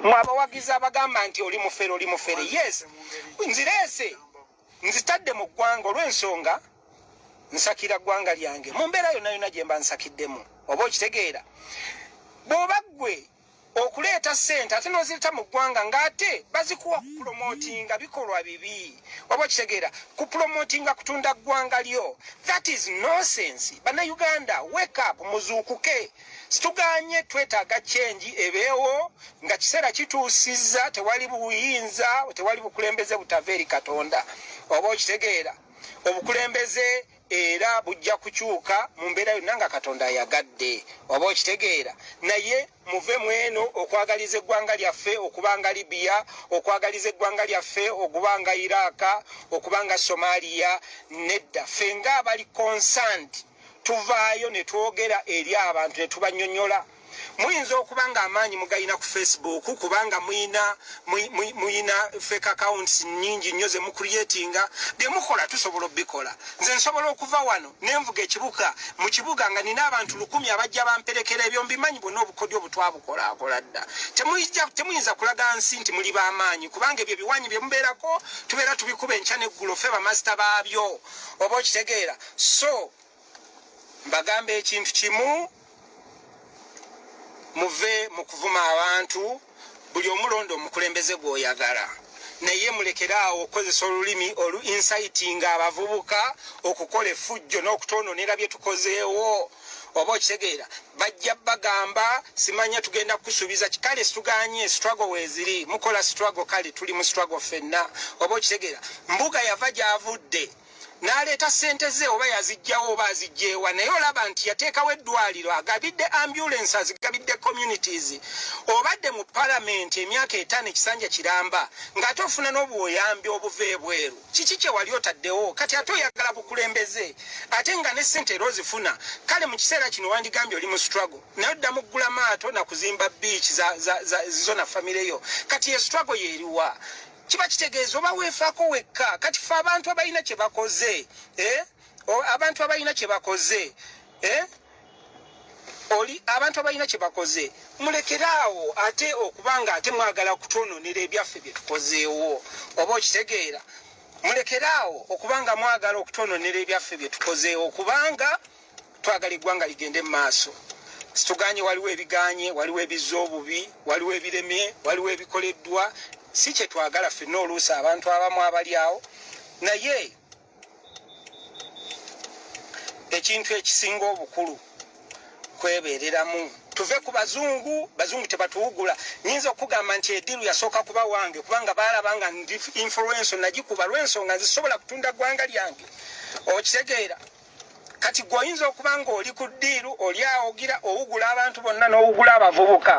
mwe abawagizi abagamba nti oli mufere oli mufere yes nzireese nzitadde mu ggwanga olw'ensonga nsakira ggwanga lyange mu mbeera yonna yonna gye mba nsakiddemu oba okitegeera bw'oba ggwe okuleeta ssente ate n'ozireta mu ggwanga ng'ate bazikuwa kupulomotinga bikolwa bibi oba okitegeera kupulomotinga kutunda ggwanga lyo that is nonsense bannayuganda wake up muzuukuke Situganye twetaaga change ebeewo nga kiseera kituusizza tewali buyinza tewali bukulembeze butava eri Katonda oba okitegeera obukulembeze era bujja kukyuka mu mbeera yonna nga Katonda ayagadde oba okitegeera naye muve mweno okwagaliza eggwanga lyaffe okuba nga Libya okwagaliza eggwanga lyaffe okuba nga Iraq okuba nga Somalia nedda ffe nga abali concerned tuvaayo ne twogera eri abantu ne tubanyonyola muyinza okuba nga amaanyi mugalina ku facebook kubanga muyina muyina fake accounts nyingi nnyo ze mucreatinga bye mukola tusobola obikola nze nsobola okuva wano nenvuga ekibuga mu kibuga nga nina abantu lukumi abajja bamperekera ebyo mbimanyi bwona obukodyo obutwabukolakola dda temuyinza kulaga nsi nti muli bamaanyi kubanga ebyo ebiwanyi bye mubeerako tubeera tubikuba enkya neggulo fe bamasita baabyo oba okitegeera so mbagamba ekintu kimu muve mu kuvuma abantu buli omulonda omukulembeze gwoyagala naye mulekere awo okukozesa olulimi olu insitinga abavubuka okukola efujjo n'okutononera bye tukozeewo oba okitegeera bajja bagamba simanya tugenda kusuubiza kikale situganye struggle weziri mukola struggle kale tuli mu struggle fenna oba okitegeera mbuga yava gyavudde n'aleeta ssente ze oba yazijjawo oba azijjeewa naye olaba nti yateekawo eddwaliro agabidde ambulance azigabidde communities obadde mu palamenti emyaka etaano ekisanja kiramba ng'ate ofuna n'obuyambi obuva ebweru kiki kye wali otaddewo kati ate oyagala bukulembeze ate nga ne ssente era ozifuna kale mu kiseera kino wandigambye oli mu struggle naye odda muggula maato na kuzimba biiki zona famireyo kati ye struggle yeeriwa kiba kitegeeza oba weefaako wekka kati fe abantu abalina kye bakoze eh? abantu abalina kye bakoze eh? oli abantu abalina kye bakoze mulekere awo ate okuba nga ate mwagala kutwononera ebyaffe bye tukozeewo oba okitegeera mulekere awo okuba nga mwagala okutwononera ebyaffe bye tukozeewo kubanga twagala eggwanga ligende mu maaso situganye waliwo ebiganye waliwo ebizza obubi waliwo ebiremye waliwo ebikoleddwa si kyetwagala fenna oluusi abantu abamu abali awo naye ekintu ekisinga obukulu kwebereramu tuve ku bazungu bazungu tebatuwugula nyinza okugamba nti ediru yasooka kuba wange kubanga baalaba nga ndi influenso nagikuba lwensonga nzisobola kutunda ggwanga lyange okitegeera kati gwe oyinza okuba ng'oli ku ddiiru oli awogira owugula abantu bonna n'owugula abavubuka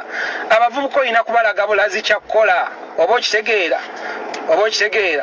abavubuka olina kubalaga bulazi kyakkola oba okitegeera oba okitegeera